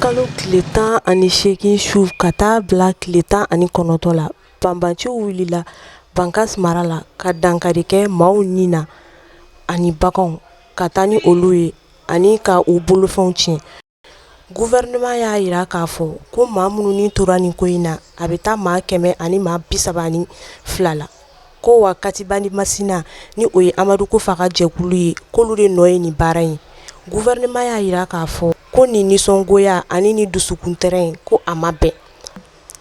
kalo tile tan ani seegin su ka taa bila tile tan ani kɔnɔntɔn la banbanciw wulila bankas mara la ka dankari kɛ maaw ni na ani baganw ka taa ni olu ye ani ka u bolofɛnw tiɲɛ gouvernement y'a jira k'a fɔ ko maa minnu ni tora nin ko in na a bɛ taa maa kɛmɛ ani maa bi saba ani fila la ko wa Katiba ni Masina ni o ye Amadu Kufa ka jɛkulu ye k'olu de nɔ ye nin baara in ye gouvernement y'a jira k'a fɔ ko nin nisɔngoya ani nin dusukuntɔɔrɔ in ko a ma bɛn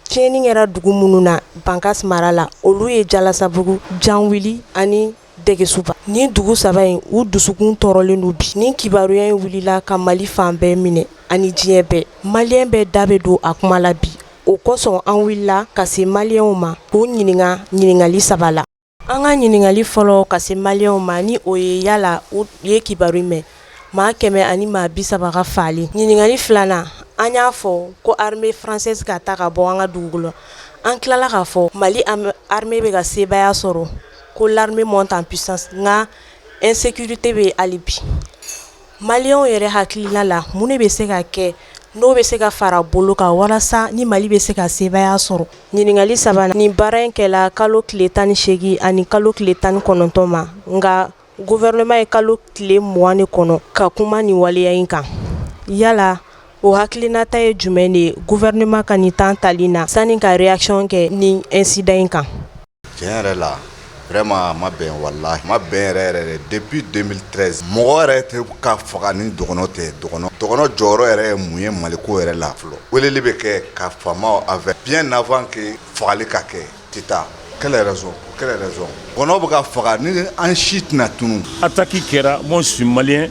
tiɲɛni kɛra dugu minnu na Bankas mara la olu ye Jalasabugu Janwili ani dɛgɛsuba nin dugu saba in u dusukun tɔɔrɔlen don bi nin kibaruya in wulila ka mali fan bɛɛ minɛ ani diɲɛ bɛɛ malien bɛɛ da bɛ don a kuma la bi o kosɔn an wulila ka se malienw ma k'o ɲininka ɲininkali saba la an ka ɲininkali fɔlɔ ka se malienw ma ni o ye yala u ye kibaru mɛn maa kɛmɛ ani maa bi saba ka faali ɲininkali filanan an y'a fɔ ko armée française ka taa ka bɔ an ka dugukolo an tilala k'a fɔ mali armée bɛ ka sebaaya sɔrɔ Ko l'armée monte en puissance nka insécurité bɛ hali bi malienw yɛrɛ hakilina la mun de bɛ se ka kɛ n'o bɛ se ka fara bolo kan walasa ni mali bɛ se ka sebaaya sɔrɔ ɲininkali sabanan nin baara in kɛla kalo tile tan ni seegin ani kalo tile tan ni kɔnɔntɔn ma nka gouvernement ye kalo tile mugan de kɔnɔ ka kuma nin waleya in kan yala o hakilinata ye jumɛn de ye gouvernement ka nin temps tali na sani ka réaction kɛ nin incident in kan Tiɲɛ yɛrɛ la vraiment a ma bɛn walahi a ma bɛn yɛrɛ yɛrɛ de depuis 2013 mɔgɔ yɛrɛ tɛ ka faga ni dɔgɔnɔ tɛ dɔgɔnɔ dɔgɔnɔ jɔyɔrɔ yɛrɛ ye mun ye Mali ko yɛrɛ la fɔlɔ weleli bɛ kɛ ka faamaw avertir bien avant que fagali ka kɛ tɛ taa quelle raison pour quelle raison dɔgɔnɔ bɛ ka faga ni an si tɛna tunun attaque kɛra moi je suis malien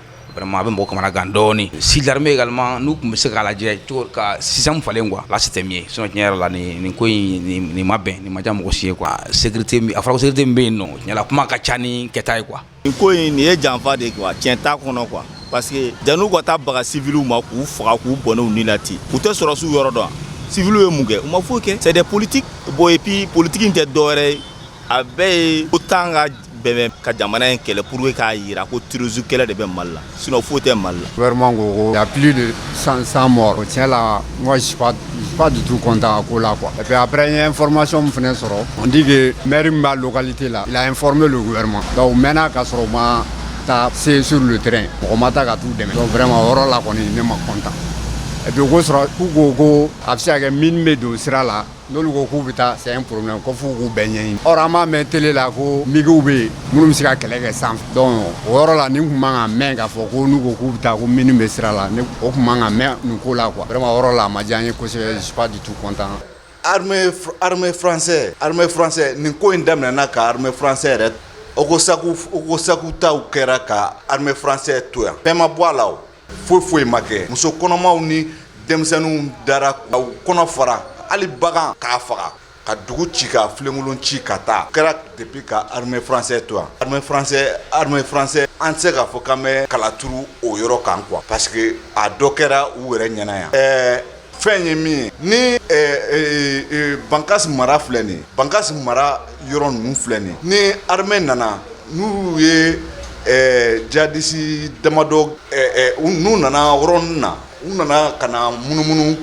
Vraiment a bɛ mɔgɔ kamana gan dɔɔni si l'armée également n'u tun bɛ se k'a lajɛ cogo ka système falen quoi là c'était mieux sinon tiɲɛ yɛrɛ la nin nin ko in nin nin ma bɛn nin ma diya mɔgɔ si ye quoi sécurité min a fɔra ko sécurité min bɛ yen nɔ tiɲɛ la kuma ka ca ni kɛta ye quoi nin ko in nin ye janfa de ye quoi tiɲɛ t'a kɔnɔ quoi parce que janni u ka taa baga civils ma k'u faga k'u bɔnɛ u ni la ten u tɛ sɔrɔdasiw yɔrɔ dɔn wa civils ye mun kɛ u ma foyi kɛ c'est des politiques bon et puis politique in tɛ dɔwɛrɛ ye a bɛɛ ye ko tan ka bɛɛ ka jamana in kɛlɛ pur k'a jira ko tuurusu kɛlɛ de bɛ mali la sina foyi tɛ mali la walima ko ya de san san mɔgɔ cɛ la ba dutu kɔntan ko la kuwa a bɛ ye fmasɔn min fana sɔrɔ n tɛ mri b'a lkali tɛ la la f bɛ don wɛrɛma nka mɛnna'a ka sɔrɔ ma taa se sur lu tren mɔgɔ ma ta ka taa u dɛmɛ wɛrɛma yɔrɔ la kɔni ne ma kɔntan ko sɔrɔ k'u ko ko a bɛ se kɛ min bɛ don sira la N'olu ko k'u bɛ taa c'est un problème ko f'u k'u bɛɛ ɲɛɲini or an b'a mɛn télé la ko migiw bɛ yen minnu bɛ se ka kɛlɛ kɛ sanfɛ donc o yɔrɔ la nin tun man kan mɛn k'a fɔ ko n'u ko k'u bɛ taa ko mine bɛ sira la o tun man kan mɛn nin ko la quoi vraiment o yɔrɔ la a ma diya n ye kosɛbɛ je suis pas du tout content armée française nin ko in daminɛna ka armée française yɛrɛ ogossagou ta kɛra ka armée française to yan bɛɛ ma bɔ a la foyi foyi ma kɛ muso kɔnɔmaw ni denmisɛnninw dara k'u kɔnɔ fara hali bagan k'a faga ka dugu ci ka filenkolon ci ka taa o kɛra depuis ka armée française to yan armée française armée française an tɛ se k'a fɔ k'an bɛ kala turu o yɔrɔ kan quoi parce que a dɔ kɛra u yɛrɛ ɲɛna yan ɛɛ fɛn ye min ye ni eh, eh, eh, bankas mara filɛ nin bankas mara yɔrɔ ninnu filɛ nin ni armée nana n'u ye jihadiste damadɔ n'u nana yɔrɔ nin na u nana ka na munumunu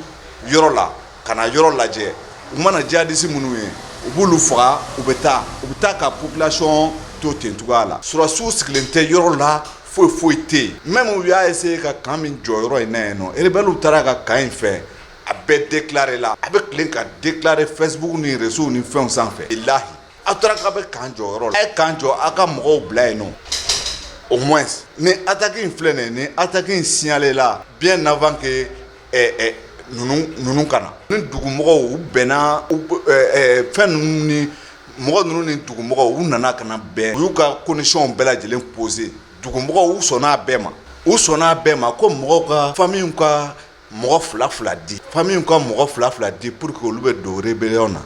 yɔrɔ la ka na yɔrɔ lajɛ u mana jihadiste minnu ye u b'olu faga u bɛ taa u bɛ taa ka population to ten cogoya la sɔrɔdasiw sigilen tɛ yɔrɔ la Foyi foyi tɛ yen mɛ u y'a se ka kan min jɔ yɔrɔ in na yen nɔ ew taara ka kan in fɛ a bɛɛ de tila la a bɛ tilen ka de tila fɛnbugu ni resiww ni fɛn sanfɛ i layi aw taara ka bɛ kan jɔ yɔrɔ la a ye kan jɔ aw ka mɔgɔw bila yen nɔ o mɔ ni ataki in filɛ nin ni ataki in siyalen la bi nafafa kɛ ninnu ka na ni dugumɔgɔw u bɛnna fɛn ninnu ni mɔgɔ ninnu ni dugumɔgɔw u nana ka na bɛn u y'u ka conditions bɛɛ lajɛlen posé dugumɔgɔw sɔnna a bɛɛ ma u sɔnna a bɛɛ ma ko mɔgɔw ka famille ka mɔgɔ fila fila di famille ka mɔgɔ fila fila di pour que olu bɛ don rébellion na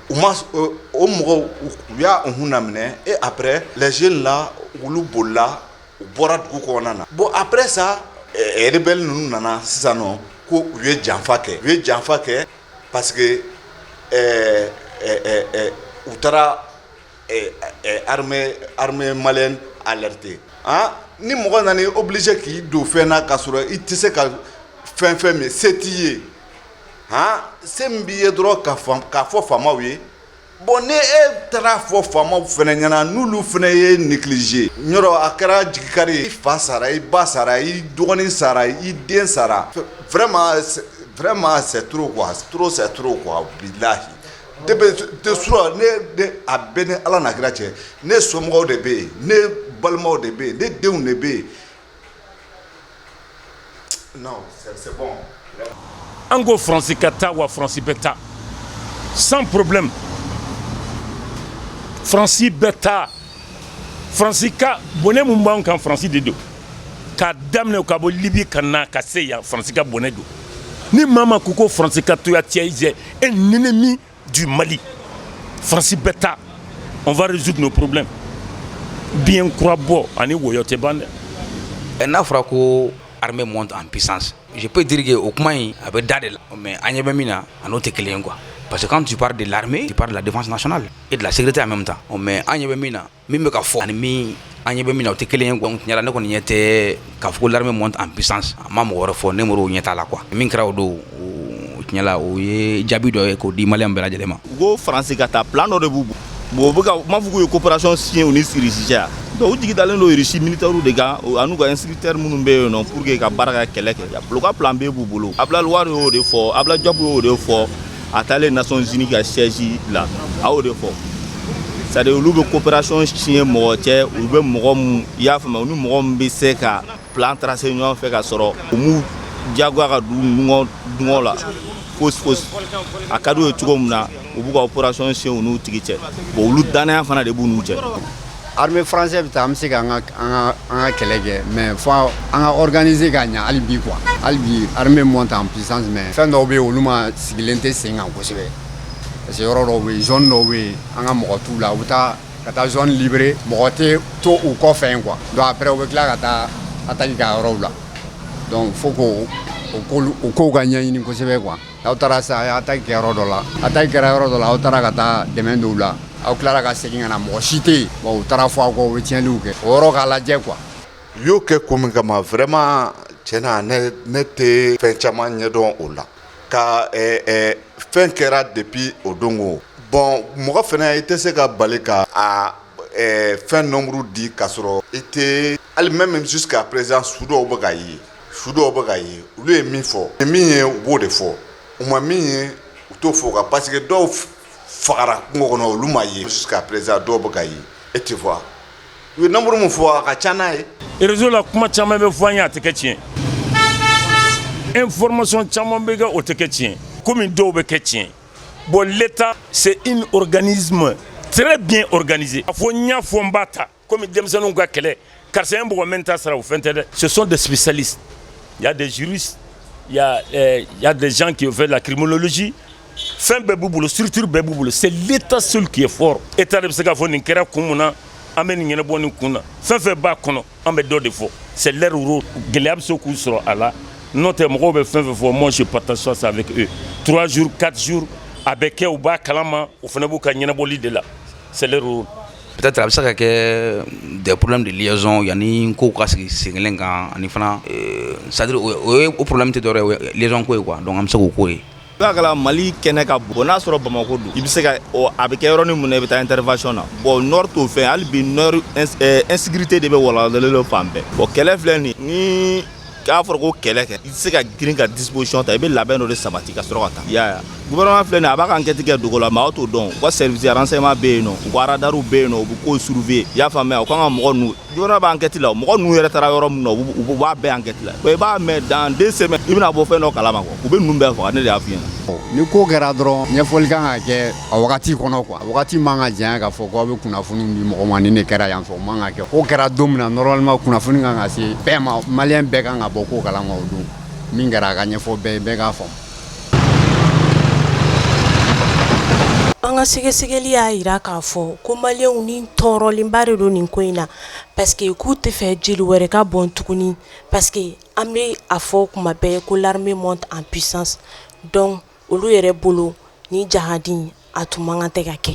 o mɔgɔw u y'a unhun naminɛ et après les jeunes là olu bolila u bɔra dugu kɔnɔna na bon après ça rebelles ninnu nana sisan nɔ ko u ye janfa kɛ, u ye janfa kɛ parce que ɛɛ ɛɛ u taara armée malienne alerter han, ni mɔgɔ nana i obliger k'i don fɛn na k'a sɔrɔ i tɛ se ka fɛn fɛn min se t'i ye han, se min b'i ye dɔrɔn k'a fɔ faamaw ye Bon ni e taara fɔ faamaw fana ɲɛna n'olu fana ye négligé yɔrɔ a kɛra jigikari ye i fa sara i ba sara i dɔgɔnin sara i den sara vraiment c'est trop quoi c'est trop quoi bilahi de a bɛ ni ala n'a kira cɛ ne somɔgɔw de bɛ yen ne balimaw de bɛ yen ne denw de bɛ yen An ko fransi ka taa wa fransi bɛ taa sans problème fransi bɛ taa fransi ka bɔnɛ min b'an kan fransi de don k'a daminɛ ka bɔ libi ka na ka se yan fransi ka bɔnɛ don ni maa min ko ko fransi ka to yan tiɲɛ un ennemi du Mali France bɛ taa on va résoudre nos problèmes bien kura bɔ ani woyɔ tɛ ban dɛ ɛ n'a fɔra ko armée monte en puissance je peux dire que o kuma in a bɛ da de la mais an ɲɛ bɛ min na a n'o tɛ kelen ye quoi parce que quand tu parles de l'armée tu parles de la défense nationale et de la sécurité en même temps ɔ mais an ɲɛ bɛ min na min bɛ ka fɔ ani min an ɲɛ bɛ min na o tɛ kelen ye quoi tiɲɛla ne kɔni ɲɛ tɛ k'a fɔ ko l'armée monte en puissance a ma mɔgɔ wɛrɛ fɔ ne mɔgɔ ɲɛ t'a la quoi min kɛra o don tiɲɛla o ye jaabi dɔ ye k'o di maliyɛn bɛɛ lajɛlen ma ko faransi ka taa plan dɔ de b'u bolo bon u m'a fɔ k'u ye coopération signer u ni Russie cɛ u jigi dalen don Russie militaires de kan an'u ka instructeurs minnu bɛ yen nɔ pour que ka baara ka kɛlɛ kɛ u ka plan B b'u bolo Abdoulaye Wade y'o de fɔ Abdoulaye Diop y'o de fɔ a taalen Nations Unies ka siège la a y'o de fɔ c'est à dire olu bɛ coopération signer mɔgɔ cɛ u bɛ mɔgɔ min i y'a faamuya u ni mɔgɔ min bɛ se ka plan tracer ɲɔgɔn fɛ ka sɔrɔ u m'u diyagoya ka don dungɔ la fosi fosi a ka d'u ye cogo min na u b'u ka opération signer u n'u tigi cɛ bon olu dannaya fana de b'u n'u cɛ Armée française bɛ taa an bɛ se ka an ka an ka an ka kɛlɛ kɛ mais fɔ an ka organiser ka ɲɛ hali bi quoi hali bi armée monte en puissance mais fɛn dɔw bɛ yen olu ma sigilen tɛ sen kan kosɛbɛ parce que yɔrɔ dɔw bɛ yen zone dɔw bɛ yen an ka mɔgɔ t'u la u bɛ taa ka taa zone libérer mɔgɔ tɛ to u kɔfɛ yen quoi donc après u bɛ tila ka taa attaque kɛ a yɔrɔw la donc faut que o kow ka ɲɛɲini kosɛbɛ quoi Aw taara sa a ye attaque kɛ yɔrɔ dɔ la attaque kɛra yɔrɔ dɔ la aw taara ka taa dɛmɛ don u la aw tilara ka segin ka na mɔgɔ si tɛ yen bon u taara fɔ aw kɔ u bɛ tiɲɛliw kɛ o yɔrɔ k'a lajɛ quoi u y'o kɛ ko min kama vraiment tiɲɛ na ne tɛ fɛn caman ɲɛdɔn o la ka fɛn kɛra depuis o don ko bon mɔgɔ fana i tɛ se ka bali ka fɛn nombre di ka sɔrɔ i tɛ Hali même jusqu'à présent su dɔw bɛ ka ye su dɔw bɛ ka ye olu ye min fɔ min ye u b'o de fɔ u ma min ye u t'o fɔ quoi parce que dɔw fagara kungo kɔnɔ olu ma ye jusqu'à présent dɔw bɛ ka ye e tɛ fɔ u ye nombre min fɔ a ka ca n'a ye réseau la kuma caman bɛ fɔ an ye a tɛ kɛ tiɲɛ information caman bɛ kɛ o tɛ kɛ tiɲɛ kɔmi dɔw bɛ kɛ tiɲɛ bon l'état c'est un organisme très bien organisé a fɔ n y'a fɔ n b'a ta Kɔmi denmisɛnninw ka kɛlɛ karisa ye mɔgɔ min ta sara o fɛn tɛ dɛ ce sont des spécialistes il y a des juristes il y a des gens qui ont fait la criminologie fɛn bɛɛ b'u bolo structure bɛɛ b'u bolo c'est l'état seul qui est fort état de bɛ se k'a fɔ nin kɛra kun mun na an bɛ nin ɲɛnabɔ nin kun na fɛn fɛn b'a kɔnɔ an bɛ dɔ de fɔ c'est leur rôle gɛlɛya bɛ se k'u sɔrɔ a la n'o tɛ mɔgɔw bɛ fɛn fɛn fɔ moi je partage ça avec eux trois jours quatre jours a bɛ kɛ u b'a kalama u fana b'u ka ɲɛnabɔli de la c'est leur rôle Peut être a bɛ se ka kɛ des problèmes de liaison yanni n kow ka sigi sen 1 kan ani fana ee c'est à dire o ye o ye o problème tɛ dɔwɛrɛ ye o ye ɛ liaison ko ye quoi donc an bɛ se k'o ko ye n'a ya kɛla Mali kɛnɛ ka bon n'a sɔrɔ Bamako don i bɛ se ka ɔ a bɛ kɛ yɔrɔnin mun na i bɛ taa intervention na bon nord t'o fɛn ye hali bi nord ins ɛɛ insécurité de bɛ walawalalen don fan bɛɛ bon kɛlɛ filɛ nin ye nii k'a fɔra ko kɛlɛ kɛ i tɛ se ka girin ka disposition ta i bɛ labɛn dɔ de sabati ka sɔrɔ ka taa i y'a ye wa gouvernement filɛ nin ye a b'a ka enquête kɛ dogo la maaw t'o dɔn u ka service renseignement bɛ yen nɔ u ka radariw bɛ yen nɔ u bɛ kow surveiller i y'a faamuya u kan ka mɔgɔ ninnu gouvernement bɛ enquête la o mɔgɔ ninnu yɛrɛ taara yɔrɔ min na u b'a bɛɛ enquête la i b'a mɛn dans deux semaines i bɛna bɔ fɛn dɔ kalama quoi u bɛ ninnu bɛɛ faga ne de y'a f'i ɲɛna ni ko kɛra dɔrɔn ɲɛfɔli kan ka kɛ A wagati kɔnɔ quoi a wagati man ka janya k'a fɔ ko aw bɛ kunnafoni di mɔgɔ ma nin de kɛra yan fɛ o man kan kɛ ko kɛra don min na normalement kunnafoni kan ka se bɛɛ ma maliyɛn bɛɛ kan ka bɔ ko kalama o don min kɛra a ka ɲɛfɔ bɛɛ bɛɛ k'a faamu an ka sɛgɛsɛgɛli y'a jira k'a fɔ ko maliyɛnw ni tɔɔrɔlenba de don nin ko in na parce que k'u tɛ fɛ jeli wɛrɛ ka bɔn tuguni pa An bɛ a fɔ kuma bɛɛ ko l'armée monte en puissance donc olu yɛrɛ bolo ni jahadi a tun man kan tɛ ka kɛ